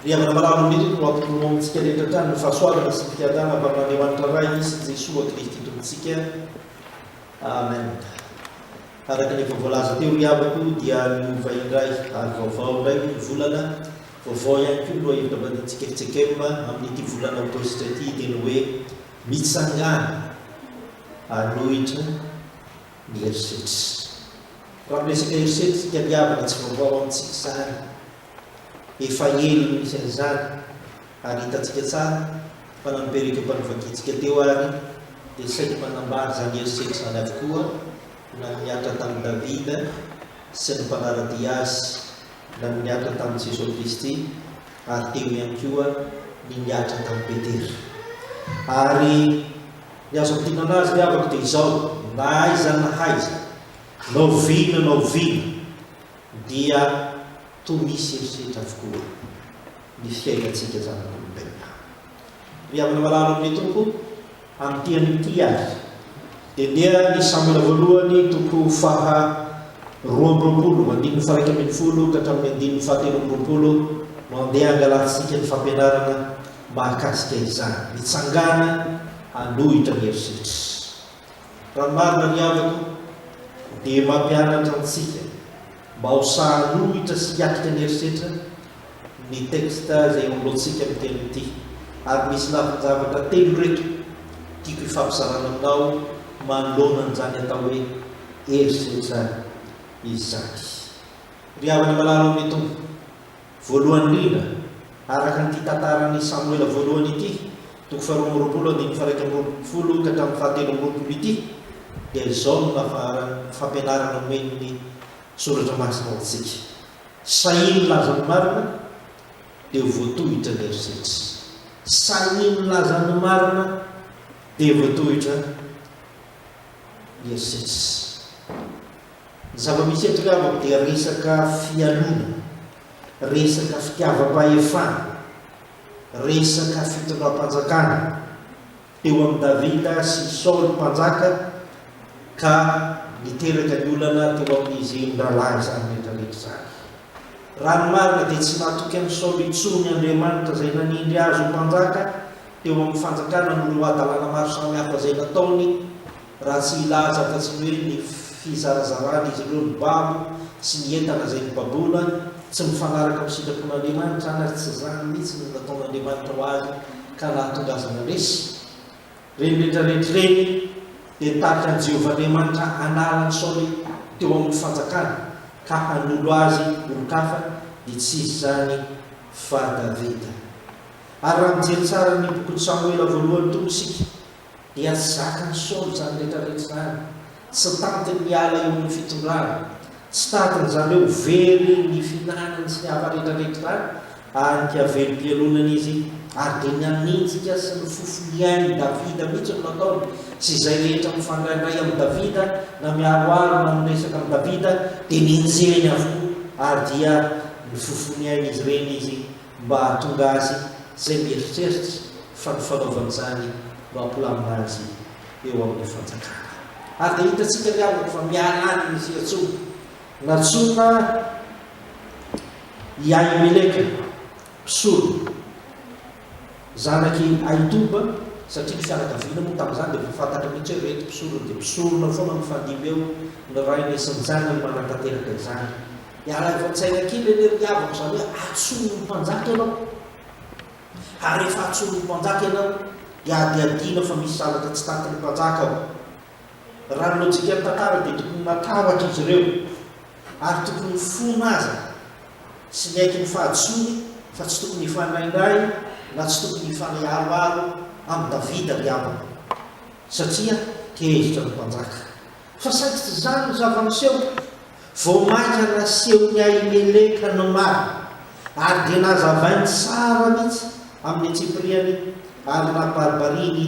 Ry havana malala indrindra no hampitoroa amintsika rehetra hatrany ny fahasoavana sy ny fiadanana avy amin'Andriamanitra Ray sy Jesoa Kristy Tompontsika. Amen. Araka ny efa voalaza teo ry havako dia niova indray ary vaovao indray moa ny volana, vaovao ihany koa ny lohahevitra mandinitsika Rtsekm amin'ity volana Aogositra ity hiteny hoe Mitsangàna hanohitra ny herisetra. Raha miresaka herisetra isika ry havana tsy vaovao amintsika izany. Efa ela no nisy an'izany ary hitantsika tsara fa na ny perequio mpanovakintsika teo ary dia saika manambara izany herisetra izany avokoa na ny niantra tamin'i Davida sy ny mpanara-dia azy na ny niantra tamin'i Jesoa Kristy ary teo ihany koa ny niantra tamin'i Petera. Ary ny azo ampianana azy ry havako dia izao, na aiza na aiza, na oviana na oviana, dia toa misy herisetra avokoa ny fiainantsika zanak'olombelona. Ry havana malala amin'ny Tompo, amin'ity an'ity ary, dia ndeha ny Samoela voalohany toko faha roa amby roapolo, andininy faha iraika ambin'ny folo ka hatramin'ny andininy faha telo amby roapolo no handeha hangalantsika ny fampianarana mahakasika izany, mitsangàna hanohitra ny herisetra. Raha ny marina ny havako dia mampianatra antsika mba ho sahanohitra sy hiatrika ny herisetra ny texte izay iangaontsika amin'ny teny ity. Ary misy lafin-javatra telo ireto tiako hifampizarana aminao manoloana an'izany atao hoe herisetra izany. Ry havana malala ao amin'ny Tompo, Voalohany indrindra, araka an'ity tantaran'i Samoela Voalohany ity, toko faharoa amby roapolo andininy faha-iraika amby roapolo ka hatramin'ny fahatelo amby roapolo ity, dia izao no nafaharan'ny fampianarana omen'ny Soratra Masina ho antsika, Sahia milaza ny marina, dia ho voatohitra ny herisetra. Sahia milaza ny marina, dia ho voatohitra ny herisetra. Ny zava-misy eto angamba dia resaka fialona, resaka fitiavam-pahefana, resaka fitondram-panjakana teo amin'i Davida sy Saoly mpanjaka ka niteraka ny olana teo amin'izy mirahalahy izany rehetrarehetra izany. Raha ny marina dia tsy natoky an'i Saoly intsony Andriamanitra izay nanindry azy ho mpanjaka teo amin'ny fanjakana noho ireo hadalana maro samihafa izay nataony Raha tsy hilaza fa tsy ny hoe ny fizarazaran'izy ireo ny babo sy ny entana izay nobaboina tsy mifanaraka amin'ny sitrapon'Andriamanitra any ary tsy izany mihitsy no nataon'Andriamanitra ho azy ka nahatonga azy naresy ireny rehetra rehetra ireny dia tarika an'i Jehovah Andriamanitra hanala an'i Saoly teo amin'ny fanjakana ka hanolo azy olon-kafa dia tsy iza izany fa Davida. Ary raha mijery tsara ny bokin'i Samoela voalohany tokoa isika dia zakan'i Saoly izany rehetrarehetra izany, tsy tantiny ny hiala eo amin'ny fitondrana, tsy tantiny izany hoe ho very ny fihinanany sy ny hafa rehetrarehetra izany, ary dia velom-pialonana izy, ary dia ny anenjika sy ny fofolian'i Davida mihitsy no nataony, sy izay rehetra mifandraindray amin'i Davida na miharoharo na miresaka amin'i Davida dia nenjehiny avokoa, ary dia nifofoniain'izy ireny izy. mba hahatonga azy izay mieritreritra fa ny fanaovany izany no hampilamina azy eo amin'ny fanjakana. Ary dia hitantsika ny havany fa miala any ny fiantsoana nantsoina i Ahimeleka, mpisolo, zanak'i Ahitoba, satria ny fianakaviana moa tamin'izany dia efa fantatra mihitsy hoe ireto mpisolo dia mpisorona foana mifandimby eo ny rainy sy ny zanany manatanteraka izany. Dia araivo an-tsaina kely anie ry havako, izany hoe antsoiny ho mpanjaka ianao. Ary rehefa antsoiny ho mpanjaka ianao, dia hadihadiana fa misy zavatra tsy takatry ny mpanjaka ao. Raha ny lojikan'ny tantara dia tokony matahotra izy ireo, ary tokony ho fona aza sy miaiky ny fahadisoany fa tsy tokony hifanainay na tsy tokony hifanay aroaro amin'i Davida ry havako, satria tezitra ny mpanjaka. Fa sady tsy izany no zava-miseho, vao mainka nasehon'i Ahimeleka ny marina, ary dia nazavainy tsara mihitsy amin'ny antsipiriany, ary nabaribariany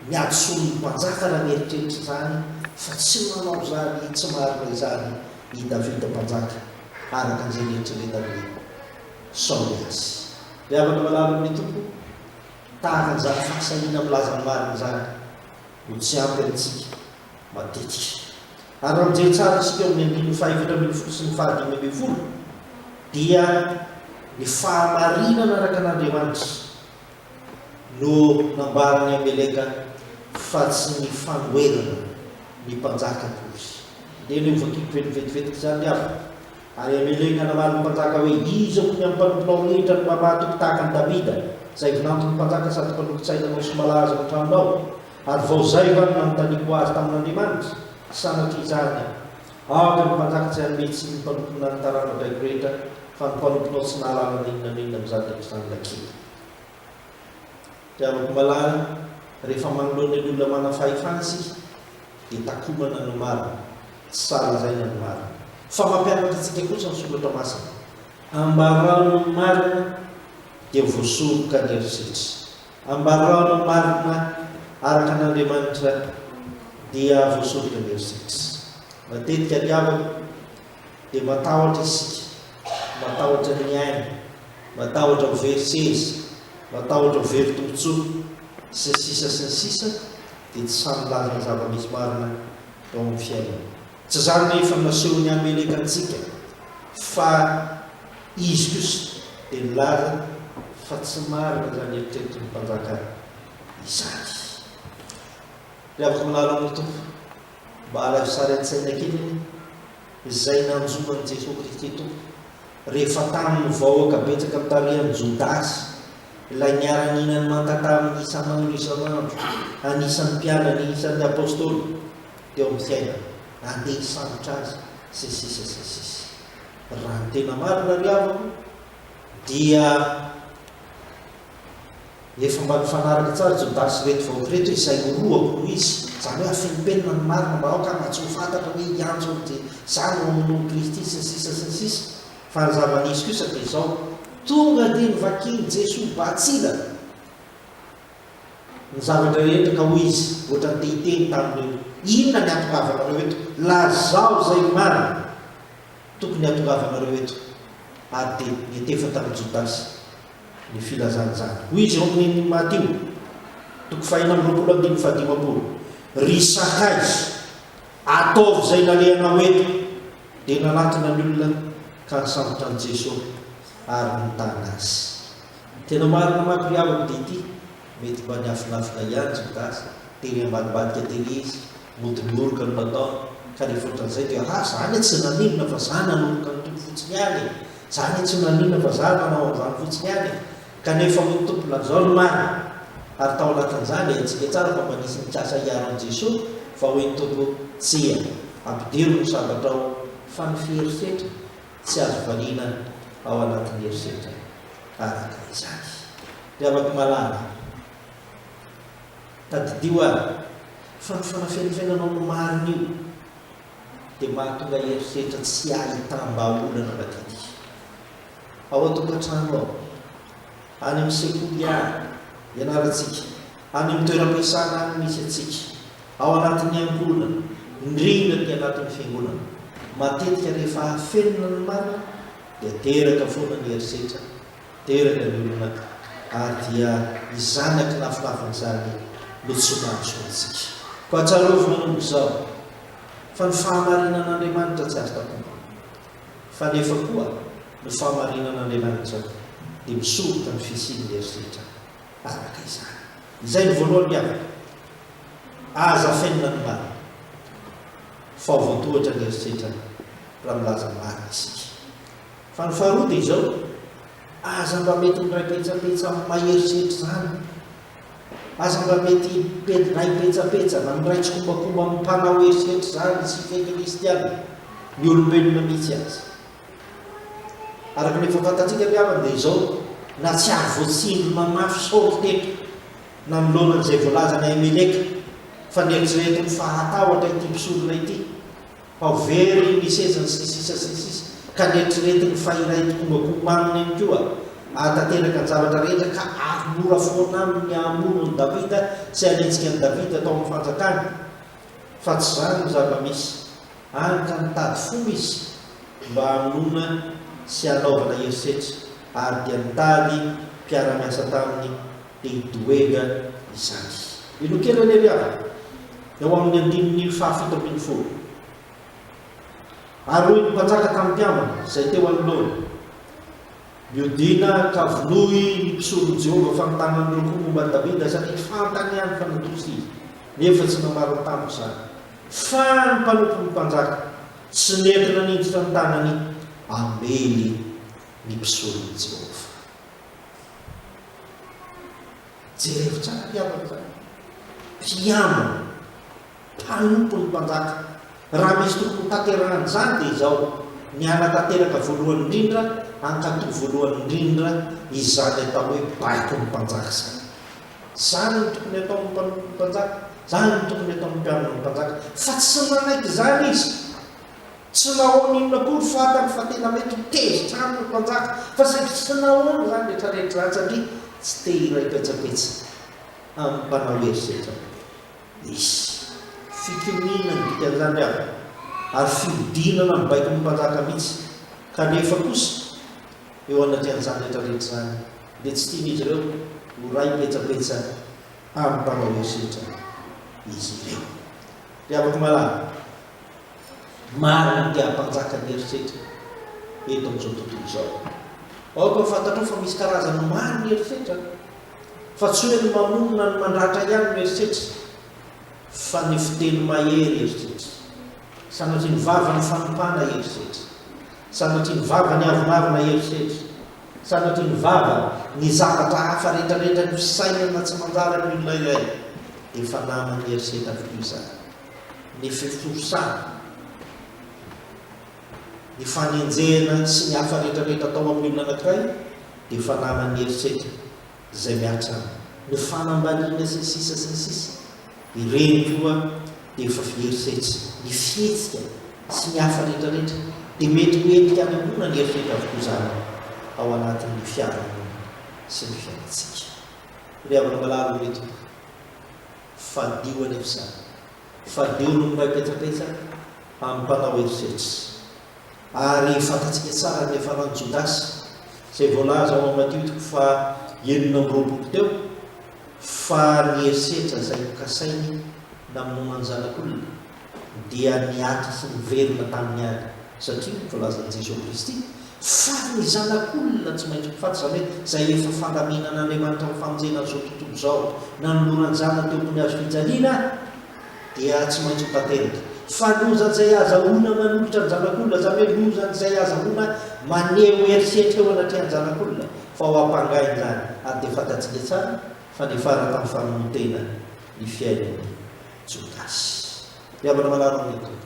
ny hadisoan'ny mpanjaka raha nieritreritra izany, fa tsy manao izany tsy marina izany i Davida mpanjaka, araka izay nieritreretan'i Saoly azy. Ry havana malala amin'ny Tompo, tahaka an'izany fahasahiana milaza ny marina izany no tsy ampy amintsika matetika. Ary raha mijery tsara isika ao amin'ny andininy fahaefatra ambin'ny folo sy ny fahadimy ambin'ny folo dia ny fahamarinana araka an'Andriamanitra no nambaran'i Ameleka fa tsy ny fanoherana ny mpanjaka akory. Dia aleo vakiko velivetivetika izany ny aviny. Ary Ameleka namaly ny mpanjaka hoe, Iza hono ny amin'ny mpanomponao rehetra no mamatiko tahaka an'i Davida, izay vinanton'ny mpanjaka sady mpanorin-tsaina anao sy malaza ao an-tranonao? Ary vao izay va no nanontaniako azy tamin'Andriamanitra? Sanatria izany aho. Aoka ny mpatakitsy hanome tsiny ny mpanomponà ny taranja baiko rehetra, fa ny mpanomponao tsy nahalala na inona na inona amin'izany rehetra izany ilay kintana. Ry havako malala, rehefa manoloana ny olona manana fahefana isika, dia takomana ny marina, tsy salazaina ny marina. Fa mampianatra antsika kosa ny Soratra Masina. Ambarao ny marina, dia ho voasoroka ny herisetra. Ambarao marina araka an' Andriamanitra dia voasovina ny herisetra. Matetika ny havana dia matahotra isika, matahotra ny ainy, matahotra ho very seza, matahotra ho very tombotsoa, sy ny sisa sy ny sisa dia tsy samy milaza ny zava-misy marina eo amin'ny fiainana. Tsy izany ny efa nasehon'i Ameleka antsika fa izy kosa dia nilaza fa tsy marina izany eritreritry ny mpanjaka izany. Ry havako milalao amin'ny Tompo, mba alaivo sary an-tsaina kely anie izay nanjo an'i Jesoa Kristy Tompo rehefa tamin'ny vahoaka betsaka nitarihan'i Jodasy ilay niara-nihinany manta taminy isan'andro isan'andro, anisan'ny mpianany, isan'ny apostoly. teo amin'ny fiainana, handeha hisambotra azy, sy sisa sy ny sisa. Raha ny tena marina ry havako dia efa mba nifanaraka tsara Jodasy ireto vahoaka ireto hoe izay orohako no izy, izany hoe afeno penina ny marina mba aoka mba tsy ho fantatra hoe i Antso ry dia izaho no hamonoan'i Kristy sy ny sisa sy ny sisa. Fa ny zava-nisy kosa dia izao, tonga dia novakian'i Jesoa Batsila Ny zavatra rehetra, ka hoy izy, ohatrany te hiteny tamin'ireo, Inona ny hatongavanareo eto? Lazao izay marina tokony hatongavanareo eto. Ary dia nietefa tamin'i Jodasy ny filazana izany. Hoy izy eo amin'ny Matio, toko fahenina amby roapolo andininy fahadimampolo, Ry sakaiza, ataovy izay nalehanao eto! Dia nanatona ny olona ka nisambotra an'i Jeso ary nitana azy. Tena marina manko ry havako dia ity, mety mba niafinafina ihany Jodasy, dia ry ambadimbadika tery izy, mody nihoroka no nataony, ka rehefa ohatran'izay dia ha za anie tsy naninona fa za nanoroka ny Tompo fotsiny ihany e, za anie tsy naninona fa za nanao an'izany fotsiny ihany e, kanefa hoy ny Tompo lazao ny marina, ary tao anatin'izany haintsika tsara fa mba nisy nikasa hiaro an'i Jesoa, fa hoy ny Tompo tsia, ampidiro ny sabatrao, fa ny fiherisetra. Tsy azo valiana ao anatin'ny herisetra araka izany. Ry havako malala, tadidio ary fa ny fanafenifenanao ny marina io dia mahatonga herisetra tsy ahitam-bahaolana madity. Ao an-tokantrano ao, any amin'ny sekoly ary ianarantsika any amin'ny toeram-piasana any misy antsika, ao anatin'ny ankohonana, indrindra ny anatin'ny fiangonana. Matetika rehefa afenina ny marina dia teraka foana ny herisetra, teraka ny olona ary dia izany akinafofafiny izany no tsy mahazo antsika. Koa tsarovy manomboka izao fa ny fahamarinan'Andriamanitra tsy azo takomina, fa nefa koa ny fahamarinan'Andriamanitra dia misoroka ny fisian'ny herisetra. araka izany. Izay no voalohany miavaka. Aza afenina ny marina fa ho voatohatra ny eritreritra raha milaza ny marina isika. Fa ny faharoa dia izao, aza mba mety miray petsapetsa amin'ny maha eritreritra izany. Aza mba mety miray petsapetsa na miray tsikombakomba amin'ny mpanao eritreritra izany isika kristiana, ny olombelona mihitsy aza. Araka ny efa fantatsika ny havany dia izao, na tsy ary voatsindry mamafy saory teto nanoloana an'izay voalazan'i Ahimeleka fa neritrereto ny fahatahotra ity mpisorona ity, fa ho very ny sezany sy ny sisa sy ny sisa, ka neritrereto ny fa iray tokombakomba aminy ihany koa ahatanteraka ny zavatra rehetra ka ary mora foana aminy ny hamono an'i Davida sy hanenjika an'i Davida tao amin'ny fanjakany, fa tsy izany ny zava-misy. Ary ka nitady fomba izy mba hamonoana sy hanaovana herisetra, ary dia nitady mpiara-miasa taminy, dia i Doega izany. Inonkena ny andiany eo amin'ny andininy fahafito ambin'ny folo. Ary hoy ny mpanjaka tamin'ny mpiambina izay teo anoloany, Mihodina an-kavonoy ny mpisoron'i Jehovah fa mitana ny loko momba an'i Davida, satria fantany ihany fa natory izy, nefa tsy nambarany tamiko izany. Fa ny mpanompon'ny mpanjaka tsy nety nanindritra ny tanany hamely ny mpisoron'i Jehovah. Jerevo tsara ity havana izany. Mpiambina. mpanompo ny mpanjaka. Raha misy tokony ho tanterahana izany dia izao, ny hanatanteraka voalohany indrindra, hankatò voalohany indrindra izany atao hoe baiko ny mpanjaka izany. Izany no tokony hataon'ny mpanompo ny mpanjaka, izany no tokony hataon'ny mpiaro ny mpanjaka. Fa tsy nanaiky izany izy. Tsy nahoany inona akory fantany fa tena mety ho tezitra aminy ny mpanjaka, fa saingy tsy nahoany izany rehetrarehetra izany, satria tsy te-hiray petsapetsa amin'ny mpanao herisetra rehetra. Nisy fikiniana ny mpiandrany aho ary fihodinana ny baikon'ny mpanjaka mihitsy, kanefa kosa eo anaty anjara rehetra rehetra izany dia tsy tian'izy ireo ho ray petsapetsa amin'ny mpanao herisetra izy ireo. Ry havako malala, maro ny te hampanjaka ny herisetra eto amin'izao tontolo izao. Aoka ho fantatrao fa misy karazany maro ny herisetra Fa tsy hoe ny mamonina ny mandratra ihany no eritreritra fa ny fiteny mahery eritreritra. Sanatria ny vava ny fanompana eritreritra. Sanatria ny vava ny avonavona eritreritra. Sanatria ny vava ny zavatra hafa rehetrarehetra ny fisainana tsy manjary amin'ny olona iray efa naman'ny eritreritra avokoa izany. Ny fiforosana Ny fanenjehana sy ny hafa rehetra rehetra atao amin'ny olona anankiray dia fananany ny herisetra izay mihatra aminy. Ny fanambaniana sy ny sisa sy ny sisa. Ireny koa dia efa fiherisetra. Ny fihetsika sy ny hafa rehetra rehetra dia mety ho endrika anemoana ny herisetra avokoa izany ao anatin'ny fiarahamonina sy ny fiainantsika. Ry havana malala ô ry tompoko, fadio anefa izany. Faliho ny miray petsapetsa amin'ny mpanao herisetra. Ary fantatsika tsara ny niafaran'i Jodasy, izay voalaza ao amin'ny Matio toko fahenina amby roapolo teo, fa ny herisetra izay nokasainy namonoana ny Zanak'olona dia niato sy niverina tamin'ny ady, satria, voalazan'i Jesoa Kristy, Sary ny Zanak'olona tsy maintsy mifaty, izany hoe izay efa fandaminan'Andriamanitra mifamonjena an'izao tontolo izao, nanoloran-jana teo ambony hazo fijaliana, dia tsy maintsy ho tanteraka. Fa lozan'izay ahazahoana manolotra ny Zanak'olona, izany hoe lozan'izay ahazahoana maneho herisetra eo anatrehan'ny Zanak'olona, fa ho ampangainy izany. Ary dia fantatsika tsara fa niafara tamin'ny famonoan-tena ny fiainan'i Jodasy. Mihabana manaraka ny Tompo.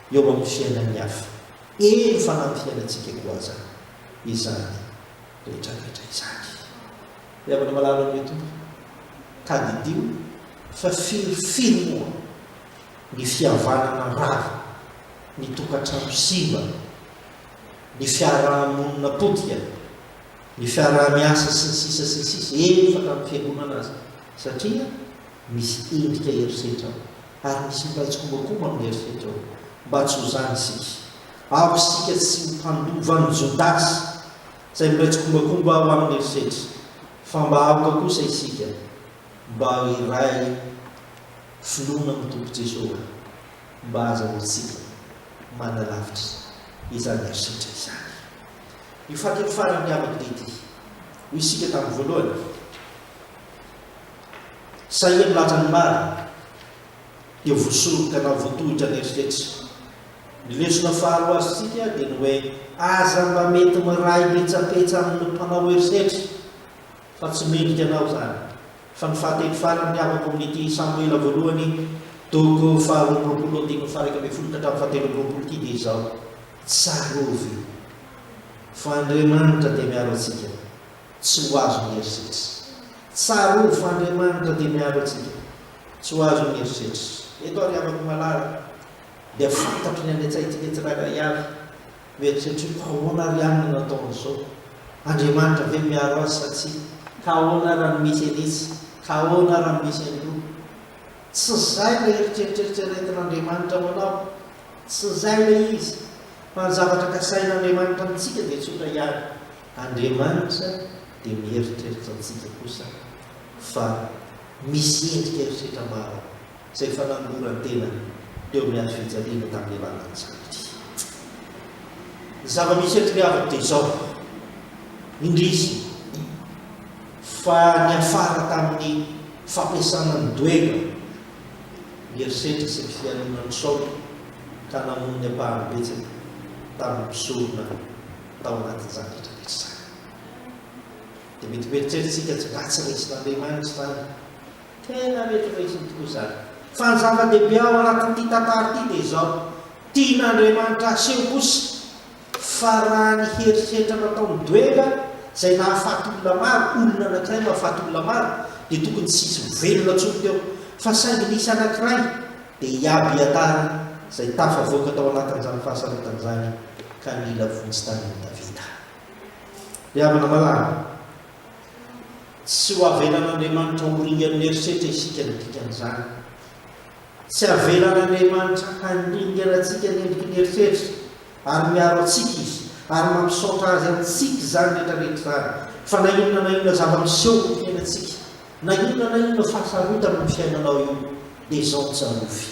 eo amin'ny fiainan'ny hafa, eny fa nampiaina antsika koa aza izany rehetrarehetra izany. Ry havana malala amin'ilay Tompo, tadidio fa firy firy moa ny fihavanana rava, ny tokantrano simba, ny fiaraha-monina potika, ny fiaraha-miasa sy ny sisa sy ny sisa, eny fa tamin'ny fiangonana aza, satria misy endrika herisetra ao. ary misy iray tsikombakomba amin'ny eritreritra hoe, Mba tsy ho izany isika! Aoka isika tsy ho mpandova an'i Jodasy, izay miray tsikombakomba ao amin'ny eritreritra, fa mba aoka kosa isika mba hiray finoana amin'ny Tompo Jesoa, mba ahazahoantsika manalavitra izany eritreritra izany. Io fahatelo farany miavaka dia ity, Hoy isika tamin'ny voalohany, Sahirana àry ny maro dia voasoroka na voatohitra ny eritreritra. Ny lesona faharoa azontsika dia ny hoe aza mba mety miray petsapetsa amin'ny mpanao herisetra fa tsy mendrika anao izany. Fa ny fahateny farany avako amin'ity Samoela voalohany, toko faharoa amby roapolo andininy faha-iraika ambin'ny folo ka hatramin'ny fahatelo amby roapolo ity dia izao, Tsarovy fa Andriamanitra dia miaro antsika. Tsy ho azon'ny herisetra. Tsarovy fa Andriamanitra dia miaro antsika. Tsy ho azon'ny herisetra. Eto aho ry havako malala dia fantatro ny any an-tsaintsika tsirairay avy. Mieritreritra hoe, ahoana ary ihany no nataony izao? Andriamanitra ve miaro azy sa tsia? Ka ahoana raha ny misy an'isa? Ka ahoana raha ny misy an'roa? Tsy izay ilay eritreritreritra iretin'Andriamanitra ho anao. Tsy izay ilay izy. Fa ny zavatra kasain'Andriamanitra amintsika dia tsotra ihany. Andriamanitra dia mieritreritra antsika kosa fa misy endrika eritreritra maro izay efa nanoloran-tena teo amin'ny hazo fijaliana tamin'ny alalan'ny Zavamisy. Ny Zavamisy eto ry havako dia izao, indrisy fa niafara tamin'ny fampiasana ny doega, ny herisetra sy ny fialonan'ny Saoly ka namono ny ampahany betsaka tamin'ny mpisorona. tao anatin'izany rehetra rehetra izany. Dia mety ho eritreretintsika tsy mba tsy resin'Andriamanitra izany. Tena retiresiny tokoa izany. Fa ny zava-dehibe ao anatin'ity tantara ity dia izao, tian'Andriamanitra haseho kosa fa raha ny herisetra nataon'i Doenga izay nahafaty olona maro, olona anankiray mahafaty olona maro, dia tokony tsy hisy ho velona intsony teo. Fa saingy nisy anankiray dia hiabiatarina izay tafavoaka tao anatin'izany fahasarotan'izany. ka nila vonjy tany amin'i Davida. Ry havana malala, tsy ho avelan'Andriamanitra horingan'ny herisetra isika ny dikan'izany. Tsy avelan'Andriamanitra haningerantsika ny endriky ny herisetra, ary miaro antsika Izy, ary mampisaotra Azy amintsika izany rehetrarehetra izany. Fa na inona na inona zava-miseho amin'ny fiainantsika, na inona na inona fahasarotana amin'ny fiainanao io, dia izao no tsarovy,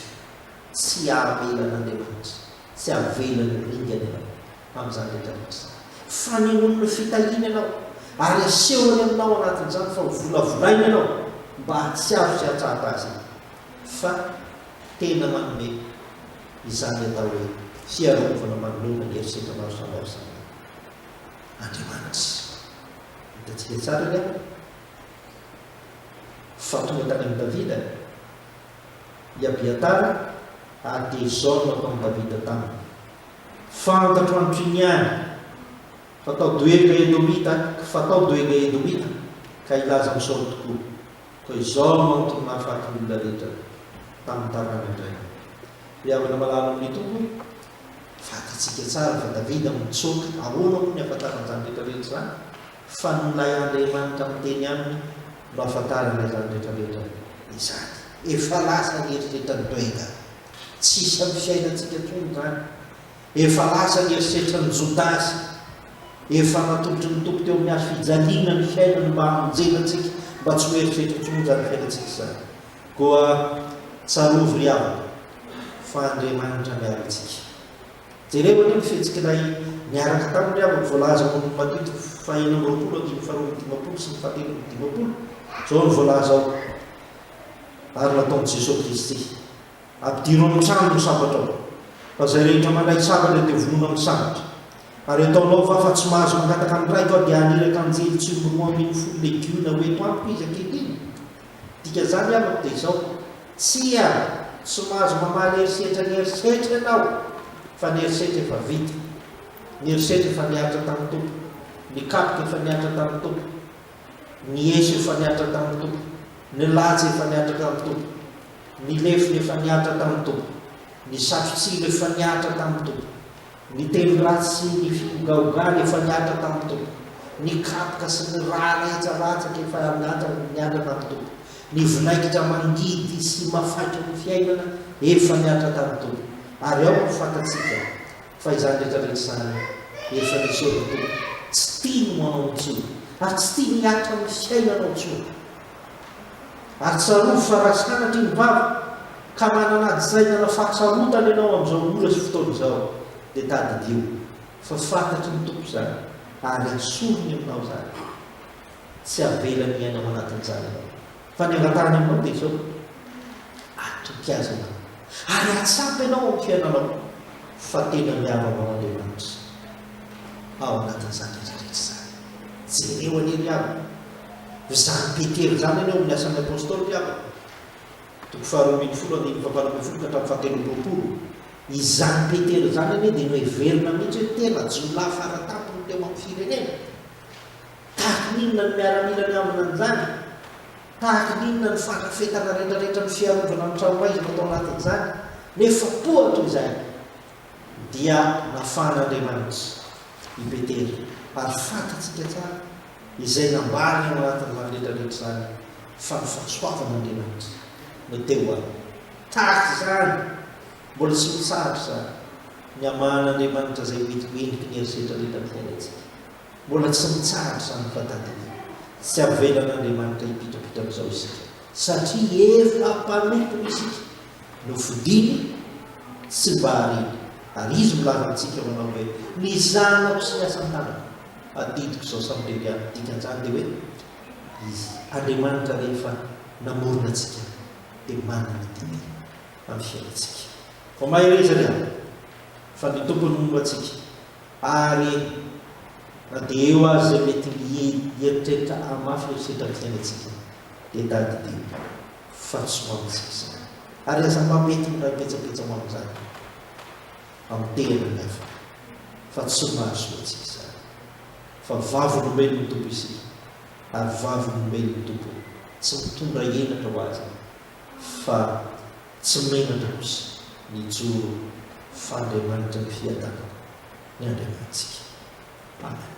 tsy avelan'Andriamanitra. Tsy avela ny ringany ianao amin'izany rehetra rehetra izany. Fanehoany ny fitahiany ianao, ary asehony aminao anatin'izany fa hovolavolainy ianao mba hahatsiaro sy hahatsapa Azy e! Fa tena manome izany atao hoe fiarovana manoloana ny herisetra maro samihafa izany Andriamanitra. Hitantsika tsara ny ao fa tonga tany amin'i Davida. i Abiatara ary dia izao no ataon'i Davida taminy, Fantatro an'try ny any fa tao Doega Edomita, fa tao Doega Edomita ka hilaza amin'i Saoly tokoa, koa izao no antony nahafaty ny olona rehetra tamin'ny tarana-drainy, Ry havana malala amin'ny Tompo, fatatsika tsara fa Davida no nitsoaka, ahoana moa ny hahafantarany izany rehetra rehetra izany fa nolahy Andriamanitra miteny aminy? Mba fantarina izany rehetra rehetra izany. Efa lasa ny eritreritran'i Doenga. Tsy hisy amin'ny fiainantsika intsony izany. Efa lasa ny eritreritran'i Jodasy. Efa natolotry ny Tompo teo amin'ny hazo fijaliana ny fiainany mba hamonjena antsika, mba tsy ho eritreritry intsony izany fiainantsika izany. Koa tsarovy ry havana fa Andriamanitra miaro antsika. Jereo anie ny fihetsik'ilay niaraka taminy havany voalaza ao amin'ny Matito fahenina amby roapolo andininy faharoa amby dimampolo sy ny fahatelo amby dimampolo, izao no voalaza ao, Ary nataon'i Jesoa Kristy, Ampidiro amin'ny tranony ny sabatrao, fa izay rehetra mandray sabatra dia vonoina amin'ny sabatra. Ary ataonao va fa tsy mahazo mangataka ny Raiko aho dia haniraka anjely tsy miroa ambin'ny folo legiona ho eto amiko izy ankehitriny? Dikan'izany amiko dia izao, Tsia, tsy mahazo mamaly herisetra ny herisetra ianao, fa ny herisetra efa vita. Ny herisetra efa nihatra tamin'ny Tompo. Ny kapoka efa nihatra tamin'ny Tompo. Ny eso efa nihatra tamin'ny Tompo. Ny laja efa nihatra tamin'ny Tompo. Ny lefona efa nihatra tamin'ny Tompo. Ny satrotsiry efa nihatra tamin'ny Tompo. Ny teny ratsy sy ny fihogahogan efa niatra tamin'ny Tompo. Ny kapoka sy ny ra rehetsaratsak efa niatra niatra tamin'ny Tompo. Ny vinaigitra mangidy sy mafaitry ny fiainana efa niatra tamin'ny Tompo. Ary aoka ho fantatsika fa izany rehetra rehetra izany efa nesoriny Tompo. Tsy tiany ho anao intsony ary tsy tiany hiatra amin'ny fiainanao intsony Ary tsarovy fa raha sanatria ny Papa ka manana adisainana fahatsarotana ianao amin'izao ora sy fotoana izao dia tadidio fa fantatry ny Tompo izany ary asoriny aminao izany. Tsy avelany hiaina ao anatin'izany ianao fa ny angatahany aminao dia izao, atoky Azy ianao ary atsapa ianao amin'ny fiainanao fa tena miaro anao Andriamanitra ao anatin'izany rehetra rehetra izany. Jereo anie ry havana. Izany Petera izany anie ao amin'ny Asan'ny Apôstôly Mpiavaka, toko faharoa ambin'ny folo andininy fahavalo ambin'ny folo ka hatramin'ny fahatelo amby roapolo. Izany Petera izany anie dia noheverina mihitsy hoe tena jiolahy fara tampony teo amin'ny firenena. Tahaka ny inona ny miaramila miambina an'izany? Tahaka ny inona ny fandrafetana rehetrarehetra ny fiarovana ny tranomaizina tao anatin'izany? Nefa tohatra izay dia nafahan'Andriamanitra i Petera, ary fantatsika tsara. izay nambarany ao anatin'izany rehetra rehetra izany fa ny fahasoavan'Andriamanitra no teo aminy. Tahaka izany, mbola tsy mitsahatra izany ny hamahan'Andriamanitra izay mety ho heniky ny herisetra rehetra amin'ny fiainantsika. Mbola tsy mitsahatra izany fa tadidio. Tsy avelan'Andriamanitra hipitrapitra amin'izao isika, satria efa mpanompo isika. Nofidiny, tsy mba hareny, ary Izy no milaza amintsika manao hoe, Ny zanako sy ny asan-tanako. Adidiko izao samy bebe amin'ny dikan'izany dia hoe Izy. Andriamanitra rehefa namorona antsika dia manana ny didy amin'ny fiainantsika. Vao mahereza ny alina fa ny Tompo no momba antsika ary na dia eo aza izay mety hieritreritra hahamafy ny herisetra amin'ny fiainantsika dia tadidio fa tsy ho amintsika izany ary aza mampety miray petsapetsa ho amin'izany. Anteriny afaka fa tsy mahazo atsy izany. Fa vavolombelon' ny Tompo isika, ary vavolombelon' ny Tompo tsy mitondra henatra ho azy fa tsy menatra kosa mijoro fa Andriamanitra ny fiadanana ny Andriamanitsika. Amena.